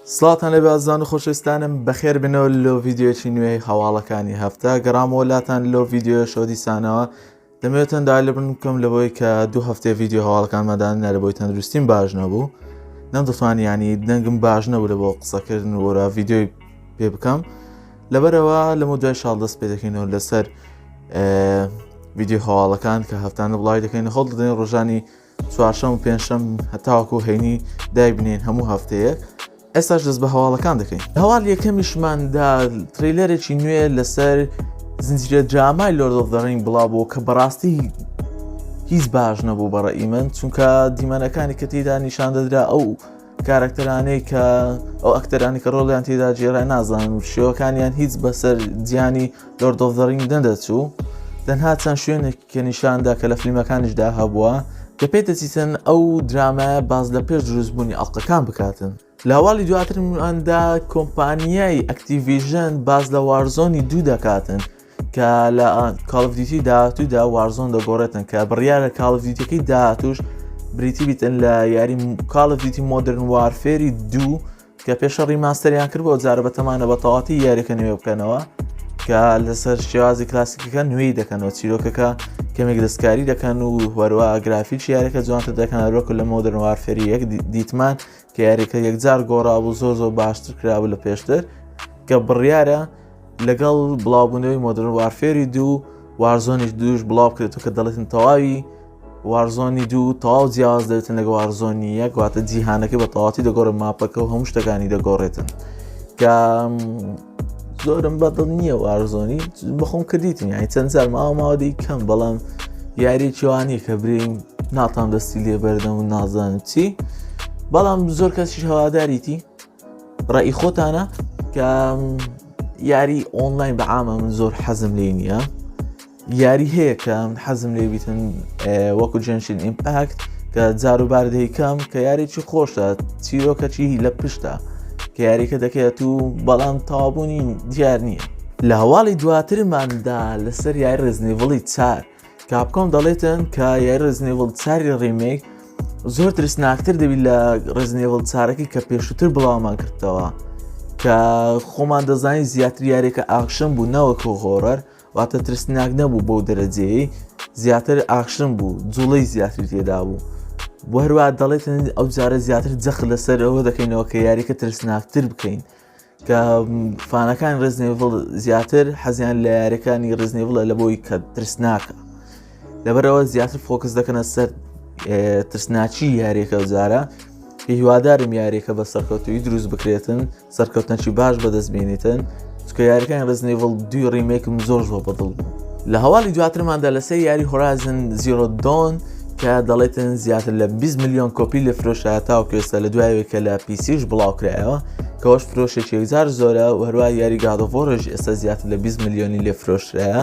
سڵاتان لەبێ ئازان و خۆشستانم بەخێر بنەوە لۆ ڤیددیوەکی نوێی هەواڵەکانی هەفتە گەڕامەوە لاتان لۆ ڤیددیو شۆدیسانەوە دەمەوێت تەندا لە بن بکەم لەوەی کە دوو هەفتێ ڤیددیو هەواڵەکان مادان نەرە بۆی تەندروستیم باش نەبوو نەم دەتوانانی ینی دەنگم باش نەبوو لە بۆ قسەکردن وەرا ڤیددیوی پێ بکەم لەبەرەوە لەمە دوای شاڵ دەست پێ دەکەینەوە لەسەر ڤیددیو هەواڵەکان کە هەفتانە بڵای دەکەین هەڵ دەدەین ڕۆژانی چوارشەم و پێنجشەم هەتاوەکو هەینی دایبنین هەموو هەفتەیەک ئێستاش دەست بە هەواڵەکان دەکەین هەواڵ یەکەمیشماندا تریلەرێکی نوێ لەسەر زنجیرە درامای لۆردۆف دەڕین بڵاو بۆ کە بەڕاستی هیچ باش نەبوو بەڕە ئیمن چونکە دیمەنەکانی کە تێدا نیشان دەدرا ئەو کارەکتەرانەی کە ئەو ئەکتەرانی کە ڕۆڵیان تێدا جێرا نازانن و شێوەکانیان هیچ بەسەر جیانی لۆردۆف دەڕین دەدەچوو دەنها چەند شوێنێک کە نیشان دا کە لە فلیمەکانیش دا هەبووە کە پێ دەچیتن ئەو درامایە باس لە پێش دروست بوونی ئەڵقەکان بکاتن لە هەواڵی دواترمان دا کۆمپانیای ئەکتیڤیژن باس لە وارزۆنی دوو دەکاتن کە لە کاڵڤدیتی داهاتوودا وارزۆن دەگۆڕێتن کە بڕیارە کاڵڤدیتەکەی داهاتوش بریتی بیتن لە یاری کاڵڤدیتی مۆدرن وارفێری دوو کە پێشە ڕیماستەریان کرد بۆ جارە بەتەمانە بە تەواتی یاریەکە نوێ بکەنەوە کە لەسەر شێوازی کلاسیکەکە نوێی دەکەنەوە چیرۆکەکە کەمێک دەستکاری دەکەن و هەروە گرافیل شارەکە جوانتە دەکەن هەروەکو لە مۆدرنوار فێری یەک دیتمان کە یاریەکە یەکجار گۆڕا بوو زۆر زۆر باشتر کرابوو لە پێشتر کە بڕیارە لەگەڵ بڵاوبوونەوەی مۆدرن وارفێری دوو وارزۆنی دووش بڵاو بکرێتەوە کە دەڵێتن تەواوی وارزۆنی دوو تەواو جیاواز دەێتن لەگە وارزۆنی یەک واتە جیهانەکە بە تەواتی دەگۆڕێت ماپەکە و هەموو شتەکانی دەگۆڕێتن کە زۆرم بەدڵ نییە وارزۆنی بەخۆم کردیتن یانی چەند جار ماوە ماوەدی کەم بەڵام یاری چوانی کە برین ناتان دەستی لێ بەردەم و نازانم چی بەڵام زۆر کەسیش هەواداریتی ڕێی خۆتانە کە یاری ئۆنلاین بە عامە من زۆر حەزم لێ نییە یاری هەیە کە حەزم لێ بیتن وەکو جنشین ئیمپاکت کە جاروبار دەیکەم کە یاریی خۆشە چیرۆکەچی لە پشتە کە یاریکە دەکەێت و بەڵام تاوابوونی دیار نییە لە هەواڵی دواترماندا لەسەر یاری ڕزنیڤڵی چار کاپکۆم دەڵێتن کە یاری ڕزنێڤڵ چاری ڕیمێک زۆر ترسناکتر دەبیت لە ڕزنێڤڵ چارەکەی کە پێشتر بڵاومان کردەوە کە خۆمان دەزانین زیاتر یارێکە ئاکشن بوو نەوەکو هۆرەر واتە ترسناک نەبوو بەو دەرەجەیە زیاتر ئاخشن بوو جوڵی زیاتر تێدا بوو بۆ هەروە دەڵێتن ئەو جارە زیاتر جەخ لەسەر ئەوە دەکەینەوە کە یاریکە ترسناکتر بکەین کە فانەکان ڕزنێڤڵ زیاتر حەزیان لە یاریەکانی ڕزنێڤڵە لە بۆی کە ترسناکە لەبەرەوە زیاتر فۆکس دەکەنە سەر ترسناچی یاریەکە جارە هیوادارم یاریەکە بە سەرکەوتوی دروست بکرێتن سەرکەوتنەکی باش بەدەست بینیتن چکە یاریەکان ڕزنێڤڵ دوی ڕیمێکم زۆر زۆر بەدڵ بوو لە هەواڵی دواترماندا لەسەر یاری هۆرازن زیرۆدۆن کە دەڵێتن زیاتر لە 20 میلیۆن کۆپی لە فرۆشە تاوکێستا لە دوایەوەی کە لە پیسیش بڵاوکرایەوە کەەوەش فرۆشێکی یەکجار زۆرە هەروە یاری گادۆڤۆرش ئێستا زیاتر لە 20 میلیۆنی لێ فرۆشرایە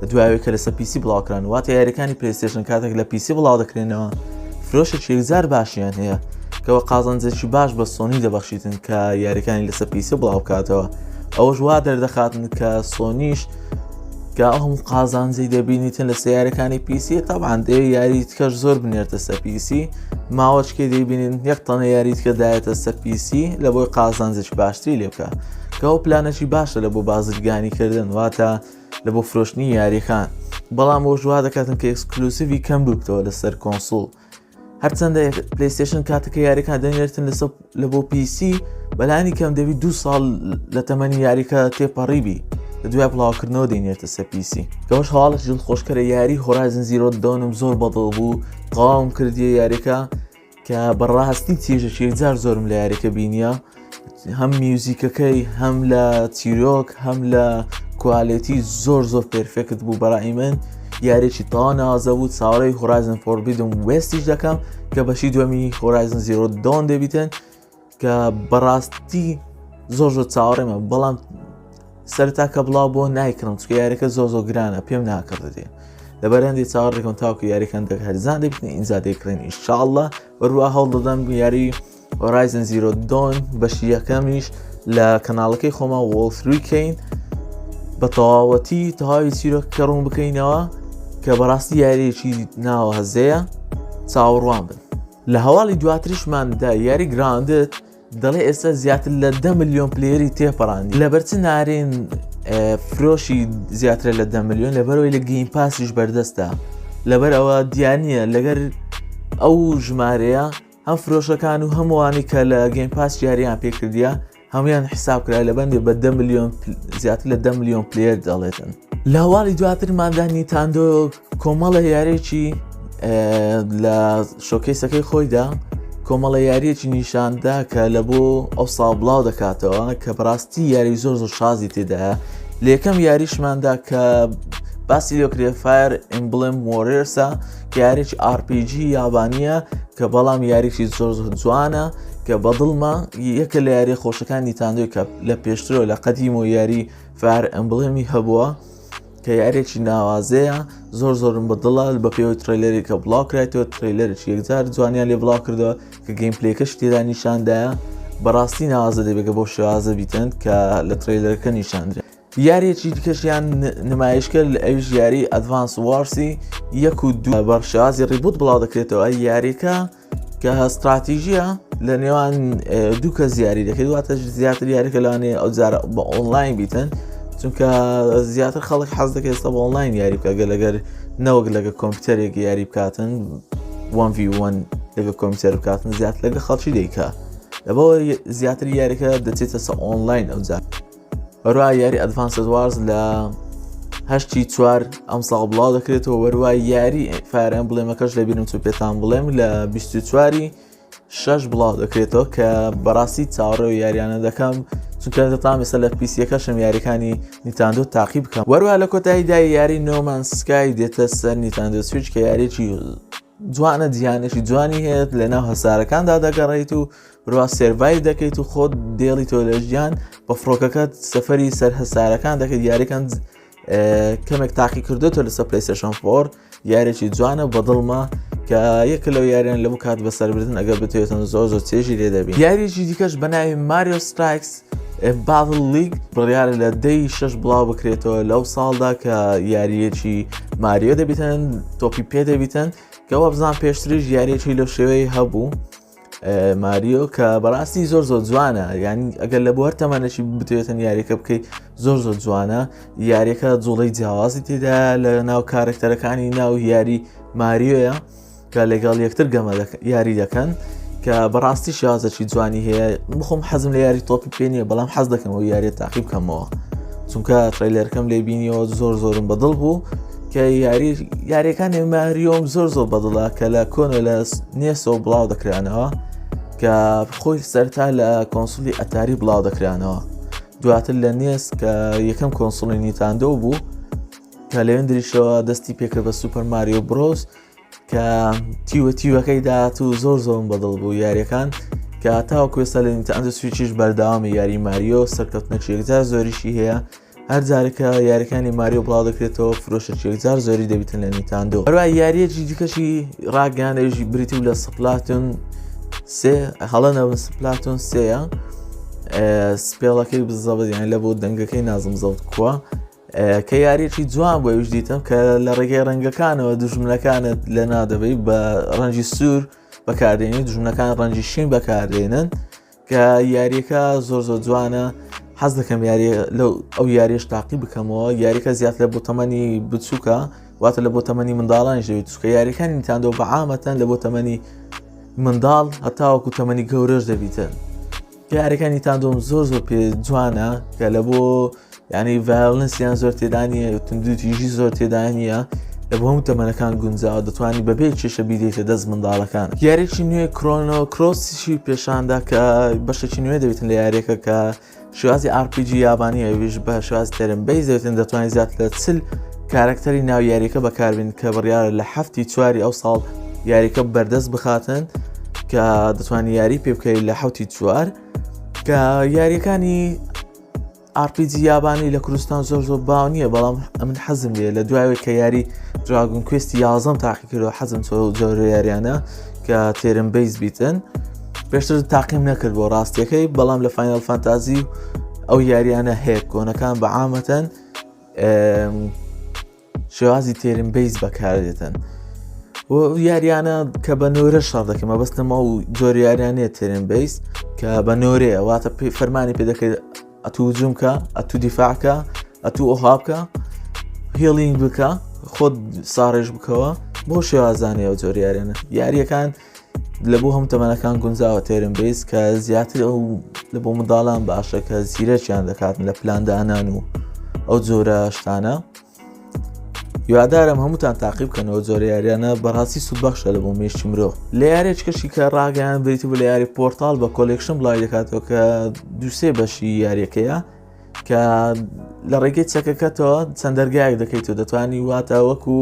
لە دوایەوەی کە لەسەر پیسی بڵاوکران واتە یاریەکانی پلیستێشن کاتێک لە پیسی بڵاو دەکرێنەوە فرۆشێکی یەکجار باشیان هەیە کەەوە قازانجێکی باش بە سۆنی دەبەخشیتن کە یاریەکانی لەسەر پیسی بڵاوکاتەوە ئەوەش وا دەردەخاتن کە سۆنیش کە ئەوم قازانجی دەبینیتن لە سیارەکانی پیسی تاوان دێ یاری تکەش زۆر بنێرتە سە پیسی ماوەچکێ دەیبینین یەک تەنە یاری تکە دایەتە سە پیسی لە بۆی قازانجش باشتری لێ بکە کە ئەو پلانەشی باشە لە بۆ بازرگانی کردن واتە لە بۆ فرۆشتنی یاریەکان بەڵام بۆ ژوا دەکاتن کە ئەکسکلوسیوی کەم ببتەوە لەسەر کۆنسول هەرچەندە پلیستشن کاتەکە یاریەکان دەنێرتن لەسە لە بۆ پیسی بەلانی کەم دەبی دو ساڵ لە تەمەنی یاریکە تێپەڕیبی لە دوای بڵاوکردنەوە دێنێتە سە پیسی گەوەش هەواڵش جل خۆشکەرە یاری هۆرازن زیرۆ دەونم زۆر بەدڵ بوو قاوم کردیە یاریەکە کە بەڕاستی چێژە شێجار زۆرم لە یاریەکە بینیە هەم میوزیکەکەی هەم لە چیرۆک هەم لە کوالێتی زۆر زۆر پرفێکت بوو بەڕی من یاریی تا نازە بوو چاوەی هۆرایزن فۆربیدم وستیش دەکەم کە بەشی دومی هۆرایزن زیرۆ دۆن دەبیتن کە بەڕاستی زۆر زۆر چاوەڕێمە بەڵام سەرتا کە بڵاو بۆ نایکرم چکە یاریەکە زۆ زۆ گرانە پێم ناکرد دێ لە بەرەندی چاڕێکم تاوکە یاریەکان دەک هەرزان دەبن ئینجا دەکرێن ئیشاءله بەروە هەوڵ دەدەم یاری Horizon Zero Dawn بەشی یەکەمیش لە کەناڵەکەی خۆما وڵفروی کەین بە تەواوەتی تەواوی چیرۆک کە ڕوون بکەینەوە کە بەڕاستی یاریێکی ناوە هەزەیە چاوەڕوان بن لە هەواڵی دواترشماندا یاری گراندت دەڵێ ئێستا زیاتر لە دە میلیۆن پلێری تێپەڕان لەبەرچ نارێن فرۆشی زیاتر لە دە میلیۆن لەبەرەوەی لە گەیم پاسیش بەردەستە لەبەر ئەوە دیانە لەگەر ئەو ژمارەیە هەم فرۆشەکان و هەم ئەوانەی کە لە گەیم پاس یاریان پێکردیە هەمویان حساب کرا لە بەندێ بە دە ملیۆن زیاتر لە دە ملیۆن پلێر دەڵێتن لە هەواڵی دواترماندا نیتاندۆ کۆمەڵە یارێکی لە شۆکەیسەکەی خۆیدا کۆمەڵە یاریەکی نیشاندا کە لە بۆ ئەو ساڵ بڵاو دەکاتەوە کە بڕاستی یاری زۆر زۆر شازی تێدایە لە یەکەم یاریشماندا کە باسی لۆکرێفایر ئیمبلم وۆرێرسە یاریی RPG یابانییە کە بەڵام یاریی زۆر جوانە کە بەدڵمە یەکە لە یاری خۆشەکانی تاندوی کە لە پێشترەوە لە قەدیم و یاری فار ئەمبڵێمی هەبووە کە یارێکی ناوازەیە زۆر زۆرم بەدڵە بە پێوەی تریلەری کە بڵاوکرێتەوە تریلەرش یەکجار جوانیان لێ بڵاو کردەوە کە گەیم پلەکەش تێدا نیشاندایە بەڕاستی ناوازە دەبێگە بۆ شێوازە بیتن کە لە تریلەرەکە نیشاندرێت یاریەکی دیکەشیان نمایش کرد لە ئەویش یاری ئەدڤانس وارسی یەک و دو بەرشازی ڕیبوت بڵاو دەکرێتەوە یاریەکە کە هەستراتیژیە لە نێوان دوو کە زیاری دەکەی واتە زیاتر یاریکە لەوانێ ئەو جارە بە ئۆنلاین بیتن چونکە زیاتر خەڵک حەز دەکە ئێستا بە ئۆنلاین یاری بکە گە لەگەر نەوەک لەگە کۆمپیوتەرێک یاری بکاتن وان وان لەگە کۆمپیوتەر بکاتن زیات لەگە خەڵکی دیکە لەبەوە زیاتر یاریکە دەچێتە سە ئۆنلاین ئەو جات بەروای یاری ئەدڤانسد وارز لە هەشتی چوار ئەم ساڵ بڵاو دەکرێتەوە وەروای یاری فارم بڵێمەکەش لە بینم چ پێتان بڵێم لە 24واری شەش بڵاو دەکرێتەوە کە بەڕاستی چاڕێ و یاریانە دەکەم چونکەتە تام ئێستا لە پیسیەکەشم یاریەکانی نیتاندۆ تاقی بکەم وەروە لە کۆتاییدا یاری نۆمان سکای دێتە سەر نیتاندۆ سویچ کە یاریی جوانە دییانێکی جوانی هەیەت لە ناو هەسارەکاندا دەگەڕیت و بروا سێرڤای دەکەیت و خۆت دێڵی تۆ لە ژیان بە فڕۆکەکەت سەفری سەر هەسارەکان دەکەیت یاریکەن کەمێک تاقی کردێتەوە لەسەر پلیسشن فۆر یارێکی جوانە بەدڵمە کە یەک لەو یاریان لە بکات بە سەربردن ئەگەر بتێتن زۆر زۆر چێژی لێ دەبی یاریی دیکەش بە ناوی ماریۆ ستایکس باڤل لیگ بڕیارە لە دەی شش بڵاو بکرێتەوە لەو ساڵدا کە یاریەکی ماریۆ دەبیتن تۆپی پێ دەبیتن کەوا بزان پێشتریش یاریەکی لەو شێوەی هەبوو ماریۆ کە بەڕاستی زۆر زۆر جوانە یان ئەگەر لە بۆ هەر تەمانەشی بتوێتن یاریەکە بکەیت زۆر زۆر جوانە یاریەکە جوڵی جیاوازی تێدا لە ناو کارکتەرەکانی ناو یاری ماریۆیە کە لەگەڵ یەکتر گەمە یاری دەکەن کە بەڕاستی شازەکی جوانی هەیە بخۆم حەزم لە یاری تۆپی پێ نیە بەڵام حەز دەکەمەوە یاریە تاقی بکەمەوە چونکە ترەیلەرکەم لێ بینیەوە زۆر زۆرم بەدڵ بوو کە یاری یاریەکانی ماریۆم زۆر زۆر بەدڵە کە لە کۆنە لە نێسەوە بڵاو دەکرانەوە کە خۆی سەرتا لە کۆنسولی ئەتاری بڵاو دەکرانەوە دواتر لە نێس کە یەکەم کۆنسڵی نیتاندۆ بوو کە لەوێن دریشەوە دەستی پێکرد بە سوپەر ماریۆ برۆس کە تیوە تیوەکەی داات و زۆر زۆم بەدڵ بوو یاریەکان کە تاوەکوێستا لە نیتاندۆ سویچیش بەرداوامی یاری ماریۆ سەرکەوتنە چێکجار زۆریشی هەیە هەر جارێکە یاریەکانی ماریۆ بڵاو دەکرێتەوە فرۆشەکی یەکجار زۆری دەبیتن لە نیتاندۆ هەروە یاریەکی دیکەشی ڕاگەانەژی بریتی و لە سپلاتون سێ هەڵە نەبن سپلاتون سەیە سپێڵەکەی بزەبدیان لە بۆ دەنگەکەی نازم زەوت کووە کە یاریەکی جوان بۆ یش دیتم کە لە ڕێگەی ڕەنگەکانەوە دژمنەکانت لە نادەبەی بە ڕەنجی سوور بەکاردێنی دژمنەکان ڕەنجی شین بەکاردێنن کە یاریەکە زۆر زۆر جوانە حەز دەکەم یاری لە ئەو یاریش تاقی بکەمەوە یاریکە زیاتر بۆ تەمەنی بچووکە واتە لە بۆ تەمەنی منداڵان ژێوی چکە یاریەکانی تاندۆ بە عامەتەن لە بۆ تەمەنی منداڵ هەتاوەکو تەمەنی گەورەش دەبیتن یاریەکانی تاندۆم زۆر زۆر پێ جوانە کە لە بۆ یانی ڤایۆلنس یان زۆر تێدا نییە تندوو تیژی زۆر تێدا نییە لە بۆ هەموو تەمەنەکان گونجاوە دەتوانانی بەبێ کێشە بیدەیتە دەست منداڵەکان یاریی نوێ کرۆنۆ کرۆسیشی پێشاندا کە بەشێکی نوێ دەبێتن لە یاریەکە کە شوازی RPG یابانی ئەویش بە شواز تەرم بەی دەوتن دەتوانین زیات لە چل کارکتەری ناو یاریەکە بەکاربین کە بڕیارە لە هەفتی چواری ئەو ساڵ یاریەکە بەردەست بخاتن کە دەتوانانی یاری پێ بکەیت لە حوتی چوار کە یاریەکانی ئارپیجی یابانی لە کوردستان زۆر زۆر باو نییە بەڵام ئەمن حەزم لێ لە دوایەوەی کە یاری دراگون کوێستی یازم تاقی کردو حەزم چۆ جۆرە یاریانە کە تێرم بیس بیتن پێشتر تاقیم نەکرد بۆ ڕاستیەکەی بەڵام لە فینال فانتازی ئەو یاریانە هەیە کۆنەکان بە عامەتەن شێوازی تێرم بیس بەکاردێتن و یاریانە کە بە نۆرە شار دەکەم مەبەستە ما و جۆر یاریانە تێرم بیس کە بە نۆرەیە واتە پێی فەرمانی پێ دەکرێت ئەتوو جومکە ئەتوو دیفاعکە ئەتوو ئۆهابکە هێڵینگ بکە خۆت ساڕێژ بکەوە بۆ شێوازانەوە جۆریارێنە یاریەکان لە بۆ هەم تەمەەکان گونجاوە تێرم بێز کە زیاتر ئەو لە بۆ منداڵان باشە کە زیرەکیان دەکاتن لە پلاندانان و ئەو جۆرە شتانە یادارم هەمووتان تاقیب بکەنەوە جۆرە یاریانە بەڕاستی سوودبەخشە لە بۆ مێشتی مرۆ لە یارێک کەشی کە ڕاگەیان بریت بە لە یاری پۆرتال بە کۆلێکشن بڵای دەکاتەوە کە دووسێ بەشی یاریەکەیە کە لە ڕێگەی چەکەکەتەوە چەند دەرگایەک دەکەیت و دەتوانانی واتە وەکو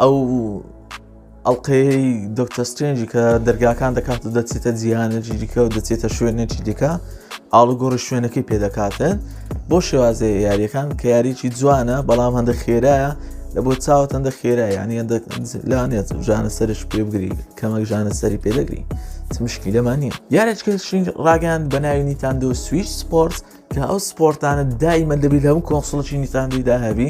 ئەو ئەڵقەی دکتە سترنجی کە دەرگاکان دەکات و دەچێتە جیهانێکی دیکە و دەچێتە شوێنێکی دیکە ئاڵوگۆڕی شوێنەکەی پێدەکاتن بۆ شێوازێ یاریەکان کە یاریی جوانە بەڵام هەندە خێرایە لە بۆ چاوت هەندە خێرا یانی لانێت ژانە سەرش پێ بگری کەمەک ژانە سەری پێدەگری مشکی لەمان نیە یارێککە شنگ ڕاگەیان بەناوی نیتاندۆ سویش سپۆرت کە ئەو سپۆرتانە دایمە دەبیت هەموو کۆنسڵکی نیتاندیدا هەبی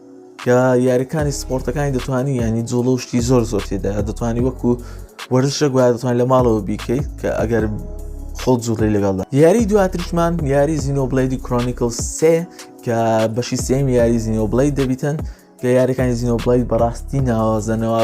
کە یاریەکانی سپۆرتەکانی دەتوانانی ینی جوڵە و شتی زۆر زۆر تێدا دەتوانانی وەکو وەرزشە گویا دەتوان لە ماڵەوە بیکەیت کە ئەگەر خۆ جوڵی لەگەڵدا یاری دواترشمان یاری زینۆبلیدی کرۆنیکل سێ کە بەشی سێم یاری زینۆبلی دەبیتن کە یاریەکانی زینۆبلی بەڕاستی ناوازەنەوە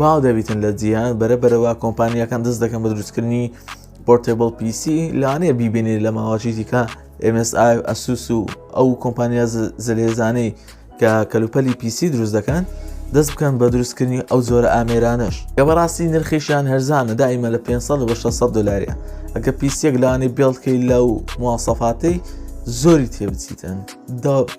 باو دەبیتن لە جیهان بەرە بەرەوە کۆمپانیەکان دەست دەکەن بە دروستکردنی پۆرتێبڵ پیسی لەوانەیە بیبێنێ لە ماوەچی دیکە MSI ئەسوس و ئەو کۆمپانیا زلێزانەی کە کەلوپەلی پیسی دروست دەکەن دەست بکەن بە دروستکردنی ئەو جۆرە ئامێرانش کە بەڕاستی نرخیشیان هەرزانە دائیمە لە 500 بە 600 دلاریە ئەگە پیسێک لانی بێڵکەی لەو موواسەفاتەی زۆری تێبچیتن دا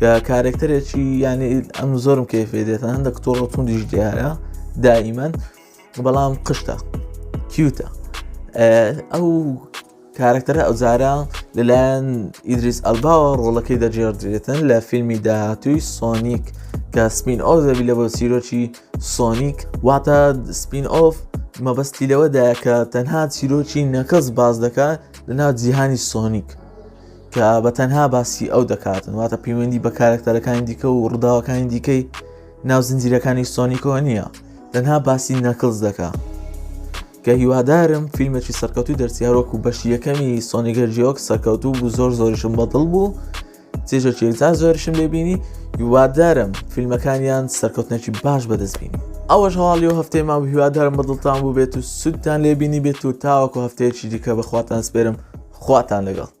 کە کارێکتەرێکی یانی ئەم زۆرم کەفێ دێتە هەندە کتۆڕ و توندیش دیارە دائیمەن بەڵام قشتە کیوتە ئەو کارکتەرە ئەوزارە لەلایەن ئیدریس ئەلباوە ڕۆڵەکەی دەجێڕدرێتن لە فیلمی داهاتووی سۆنیک کە سپین ئۆف دەبی لە بۆ سیرۆکی سۆنیک واتە سپین ئۆف مەبەستی لەوەدایە کە تەنها چیرۆکی نەکەس باز دەکات لەناو جیهانی سۆنیک کە بە تەنها باسی ئەو دەکاتن واتە پەیوەندی بە کارکتەرەکانی دیکە و ڕووداوەکانی دیکەی ناو زنجیرەکانی سۆنیکۆ نییە تەنها باسی نەکلز دەکە کە هیوادارم فیلمێکی سەرکەوتوی دەرسیارۆکو بەشی یەکەمی سۆنیگەر جیۆک سەرکەوتوو بوو زۆر زۆریشم بەدڵ بوو چێژە چێزا زۆرشم لێبینی هیوادارم فیلمەکانیان سەرکەوتنەکی باش بەدەستبینی ئەوەش هەواڵی و هەفتەی ما هیوادارم بەدڵتان بوو بێت و سوودتان لێبینی بێت و تاوەکو هەفتەیەکی دیکە بەخواتان سپێرم خواتان لەگەڵ